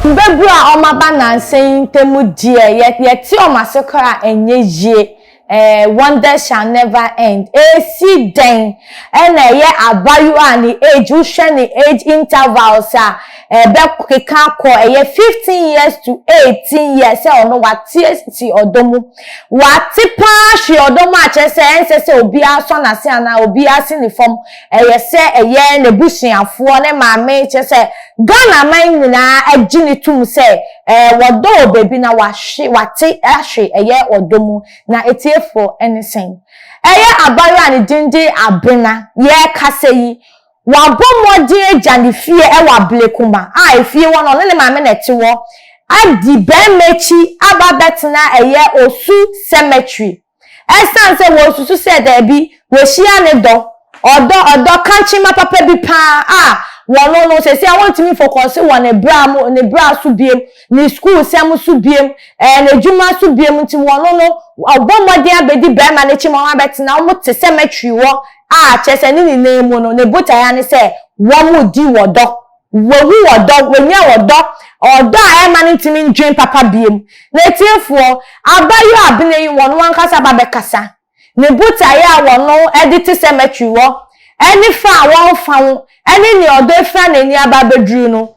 Mbabur a wɔaba nnansa yi ntamu deɛ, yɛtse wɔn ase koraa a, nnyɛ yie. Ɛɛɛ wonders shall never end. Esi dɛn na ɛyɛ abayewa a ne age, wohwɛ ne age intervals a, ɛbɛkeka akɔ ɛyɛ fifteen years to eighteen years sɛ ɔno ɔatse esi ɔdɔ mu? W'ate paa hwe ɔdɔ mu a kyerɛ sɛ ɛnsɛ sɛ obiara sɔ n'ase anaa obiara si ne fam ɛyɛ sɛ ɛyɛ n'abusuafoɔ ne maame kyerɛ sɛ Ghana man nyinaa agye no tum sɛ ɛɛ wɔdɔ wɔ baabi na w'ahwe w'ate ahwe ɛyɛ ɔdɔ mu na atiefoɔ ɛne sɛn ɛyɛ abayewa a ne din de Abena yɛɛkasa yi Wabɔ mmɔden agya ne fie wɔ Ablekuma a efie hɔ no ɔno ne maame na ɛte hɔ adi barima akyi aba abɛtena ɛyɛ Osu cemetery ɛsiane sɛ wɔsusu sɛ daabi wahyia ne dɔ, ɔdɔ, ɔdɔ kankyema papa bi pa ara a wɔno no seesei wɔntumi mfokɔse wɔ ne bra mu, ne bra so biom, ne sukuu sɛm so biom, ɛɛ n'adwuma so biom nti wɔno no ɔbɔ mmɔden abɛdi barima no akyi ma wɔn abɛtena wɔn te cemetery hɔ a kyerɛ sɛ ne nyinaa mu no ne botae ara ne sɛ wɔdi ɔdɔ, wɔawu ɔdɔ, wɔanya ɔdɔ, ɔdɔ a ɛmma no ntumi ndwen papa biom. Na atiefoɔ, abaayewa abena yi wɔn ankasa ba bɛkasa. Ne botae a wɔn de te cemetery hɔ, ne fa a wɔfa ho, ne nea ɔdɔ fira n'ani aba abɛduru no,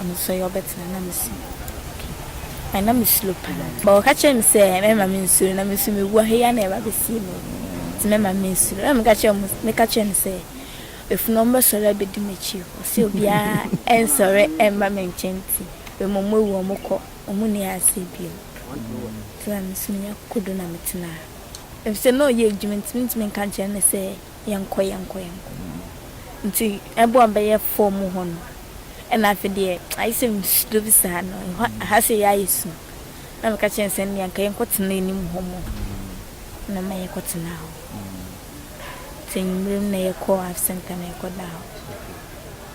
Ɔno nso ɔyɛ ɔbɛtena na me suro okay na me suro paa but ɔka kyerɛ me sɛ mɛma me nsuro na me nso me wu aheyɛ na ɛba bɛsie me nti mɛma me nsuro na me ka kyerɛ mo me ka kyerɛ no sɛ efunu ɔmo bɛsɔre abɛdi m'akyi o ɔsɛ obiara ɛnsɔre ɛmba me nkyɛn nti bɛ mo mo awu ɔmo kɔ ɔmo ni aseɛ bio nti na me nso me nya kokodo na me tenaa efisɛ na ɔyɛ adwuma nti me ntumi nka nkyerɛ no sɛ. yɛnkɔ yɛnkɔ yɛnkɔ nti ɛbɔ a bɛyɛ fɔɔ mu hɔ no ɛna afei deɛ ayɛ sɛ nsuo bi saa no ɛhɔ aha sɛ yɛ ayɛ sum na meka kyerɛ sɛ nea nka yɛnkɔ tena anim hɔ mu na ma yɛkɔ tena hɔ nti anwummerɛ mu na yɛkɔ af center na yɛkɔ da hɔ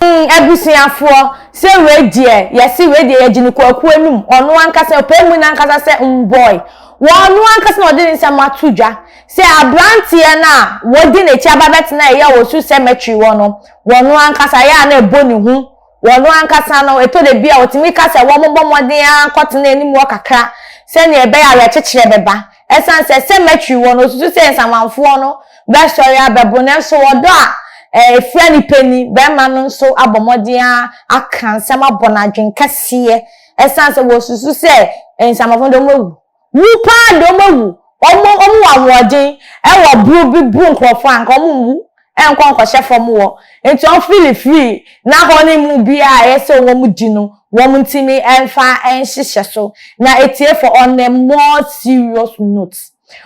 mm, abusuafoɔ sɛ wei deɛ yɛse wei deɛ yɛgye no kwakuo anum ɔno ankasa ɔpɛ mu no ankasa sɛ mbɔe wɔn ano ankasa na ɔde ne nsɛm ato dwa Sɛ aberanteɛ no a wadi n'akyi aba bɛtena a ɛyɛ wɔ su cemetery hɔ no, ɔno ankasa, ɛyɛ a na ɛbɔ ne hu. Ɔno ankasa no, ɛtɔ da bi a ɔtumi ka sɛ wɔmmɔ mmɔden ara nkɔtena anim hɔ kakra sɛdeɛ ɛbɛyɛ a awerɛkyekyerɛ bɛba. Ɛsiane sɛ cemetery wɔ no, ɔsusu sɛ nsamanfoɔ no bɛsɔre abɛbo no. Nanso ɔdɔ a ɛfira ne pɛ ni barima no nso abɔ mmɔden ara aka nsɛm abɔ no adwene kɛseɛ ɛsiane sɛ ɔsusu sɛ nsamanfoɔ no deɛ wɔawu. Wu paa de ɔmo awu. Ɔmo ɔmo wɔ ahoɔden ɛwɔ buru bi buru nkorɔfoɔ a nka ɔmo nwu ɛnkɔ nkɔhyɛ fɔm wɔ nti ɔmo fili free na hɔ ne mu biaa a ɛyɛ sɛ wɔn di no wɔn ntimi ɛnfa ɛnhyehyɛ so na ɛtie fɔ on a more serious note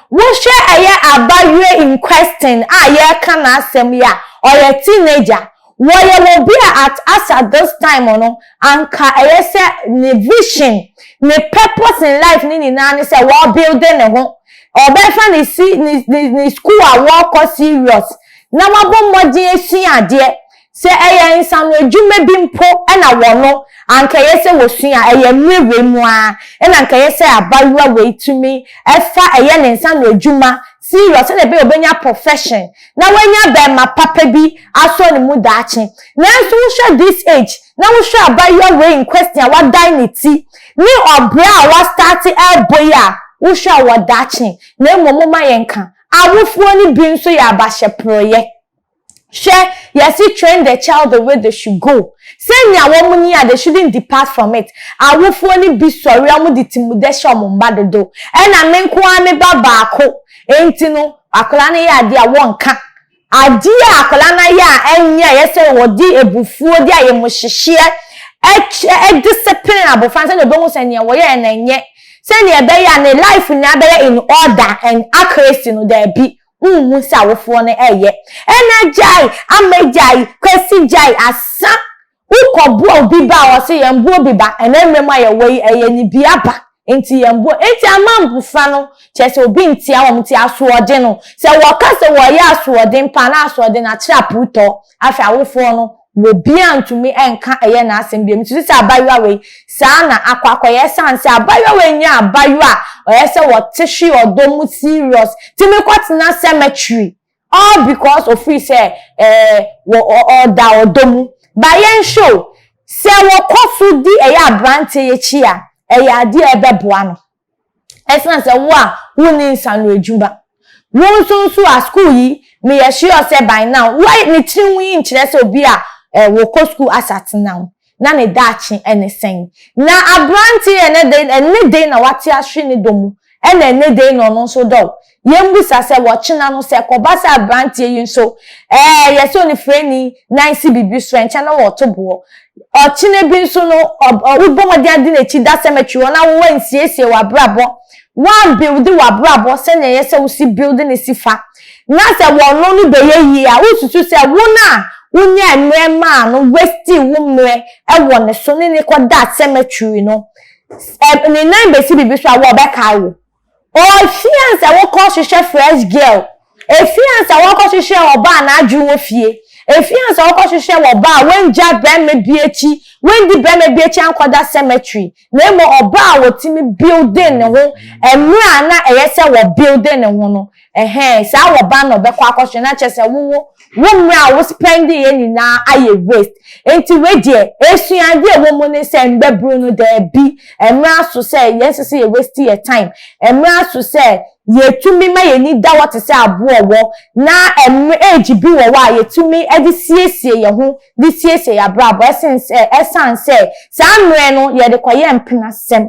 wo hwɛ ɛyɛ abayewa in question a yɛɛka n'asɛm yi a ɔyɛ teenager Wɔyɛ wɔ bi a at us at this time no anka ɛyɛ sɛ ne vision, ne purpose in life no nyinaa ne sɛ wɔ builde ne ho, ɔbɛfa ne si ne ne ne school a wɔkɔ serious na wabɔ mmɔden asua adeɛ. Sɛ ɛyɛ nsano adwuma bi mpo na wɔ no anka ɛyɛ sɛ wɔsua, ɛyɛ mmerɛ wei mu ara na anka ɛyɛ sɛ abayewa wei tumi fa ɛyɛ ne nsano adwuma serious sɛdeɛ ɛbɛyɛ ɔbɛnya profession na wanya bɛɛma papa bi asɔ ne mu daakye nanso wohwɛ this age na wohwɛ abayewa wei in question a wadan ne ti ne ɔbrɛ a wa start ɛɛbɔ yi a wohwɛ a ɔwɔ daakye na mmom moma yɛnka awofoɔ no bi nso yɛ abahyɛprɔeɛ Hwɛ, yɛse train the child the way they should go, sɛnea wɔn ni a they shouldn't depart from it, awofoɔ no bi sɔre a wɔde timudɛ hyɛ wɔn mma dodo, ɛna me nko ara me ba baako nti no akwadaa no yɛ adeɛ a wɔnka, adeɛ a akwadaa no ayɛ a ɛnyɛ a ɛyɛ sɛ wɔde abufuo de ayɛmuhyehyeɛ ɛkyɛ discipline abɔfra no sɛdeɛ ɔbɛhu sɛ nea wɔyɛɛ no ɛnyɛ sɛdeɛ ɛbɛyɛ a ne life nyinaa bɛyɛ in order and accuracy no daabi. Wonhu sɛ awofoɔ no reyɛ. Ɛna gyae, ama gyae, kwasi gyae, asa. Wokɔboa obi ba a ɔse yɛn boɔ bi ba. Ɛna mmerɛ mu a yɛwɔ yi ɛyɛ ne bi aba nti yɛn boɔ. Nti ama mmfra no kyerɛ sɛ obi ntia wɔn nti asoɔden no. Sɛ wɔka sɛ wɔyɛ asoɔden paa na asoɔden no akyerɛ apuutɔ. Afei awofoɔ no. Obiara ntumi nka ɛyɛ n'asɛm bio. Nso sisi abaayewa wei saa na akɔ akɔyɛ ɛsan sɛ abaayewa wei nyɛ abaayewa a ɔyɛ sɛ ɔte hwe ɔdɔ mu serious ti mi kɔ tena cemetery all because ofiri sɛ ɛɛ wɔ ɔda ɔdɔ mu ba yɛn hwɛ o sɛ wɔkɔ so di ɛyɛ abranteɛ yɛ akyi a ɛyɛ adeɛ ɛbɛboa no. Ɛsena sɛ wo a wonni nsano adwuma. Wo nso nso a school yi meyɛ sure sɛ by now wo a ne tiri ho yi nkyerɛ sɛ obi a eh wo kɔ school asatenam na ne daakye ɛne sɛn. Na aberanteɛ ɛnɛ dɛn ɛnɛ dɛn na wate ahwe ne dɔ mu ɛna ɛnɛ dɛn na ɔno nso dɔ wo. yɛmmisa sɛ wɔkyena no sɛ kɔba sɛ aberanteɛ yi nso ɛɛ yɛ sɛ onifirani na nsi biribi so ɛnkyɛ na wɔto boɔ ɔkyena bi nso no wobɔ mmɔden ade n'akyi da cemetery hɔ na wowa nsiesie w'abrabɔ woambilde w'abrabɔ sɛnea ɛyɛ sɛ wosi bilde ne si fa na sɛ wɔno no bɛyɛ yie a wosusu sɛ wo no a wonya mmerɛ maa no wasti wo mmerɛ ɛwɔ ne so ne ne kɔda cemetery no ne nan bɛsi biribi so a wɔbɛkae wo Ofii ansa wokɔ hwehwɛ fresh girl Efii ansa wɔkɔ hwehwɛ ɔbaa n'adwene wɔ fie Efii ansa wɔkɔ hwehwɛ wɔbaa wangya bɛɛma bi akyi Wandi bɛɛma bi akyi ankɔda cemetery Na mmom ɔbaa a wɔtumi building ne ho mmerɛ a na ɛyɛ sɛ wɔ building ne ho no Ɛhɛn, saa wɔ ba na ɔbɛkɔ akɔhwɛ na kyerɛ sɛ wo wo wo mmerɛ a wo spɛndi yɛ nyinaa ayɛ waste. Nti wei deɛ esuade a ɛwɔ mu ne sɛ mbɛburu no daabi ɛmmerɛ aso sɛ yɛn nsɛ sɛ yɛ waste yɛ time, ɛmmerɛ aso sɛ yɛ tumi ma yɛ ani da hɔ te sɛ aboɔ ɔwɔ na ɛmmerɛ age bi wɔ hɔ a yɛ tumi de siesie yɛ ho de siesie yɛ abrabɔ ɛsen sɛ ɛsan sɛ saa mmerɛ no yɛde kɔ yɛ mpenasɛm,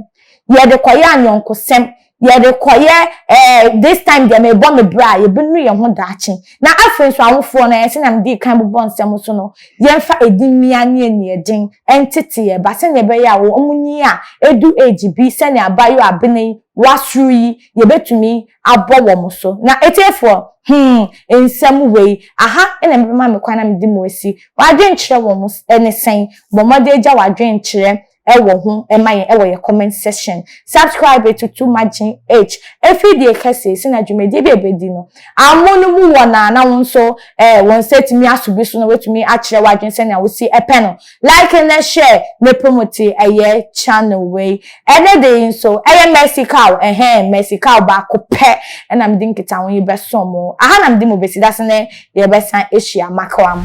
yɛde kɔ yɛ anyɔnkosɛm, Yɛrekɔyɛ eh, this time deɛ mebɔ me bra, yɛbɛnu yɛn ho daakye. Na afei nso awofoɔ no, eh, sɛnea medii kan bobɔ nsɛm so no, yɛmfa ɛdi mmea ne aniɛden ntete yɛn ba sɛnea ɛbɛyɛ a wɔnyin a ɛdu age bi sɛnea abaayewa abena yi wasoro yi, yɛbɛtumi abɔ wɔn so. Na atiefoɔ, hmm, nsɛm wei, aha na mebɛma me kwan na mede mo asi. W'adwenkyerɛ wɔn ne sɛn? Bɔ mmɔden gya w'adwenkyerɛ ɛwɔ ho ɛma yɛn ɛwɔ yɛ comment section subscribe etutu magye each efiri deɛ kɛse si na dwumadie bi ebedi no amu no mu wɔ na na wɔn nso ɛɛ wɔn nsa etumi aso bi so na wetumi akyerɛ wadwene sɛ nea wosi ɛpɛ no like na share ne promote ɛyɛ channel wei ɛne de yi nso ɛyɛ mercy cow ɛhɛn mercy cow baako pɛ ɛna mede nkita ho yi bɛso mo aha na mede mo besi dase ne yɛbɛsan ehyia makawam.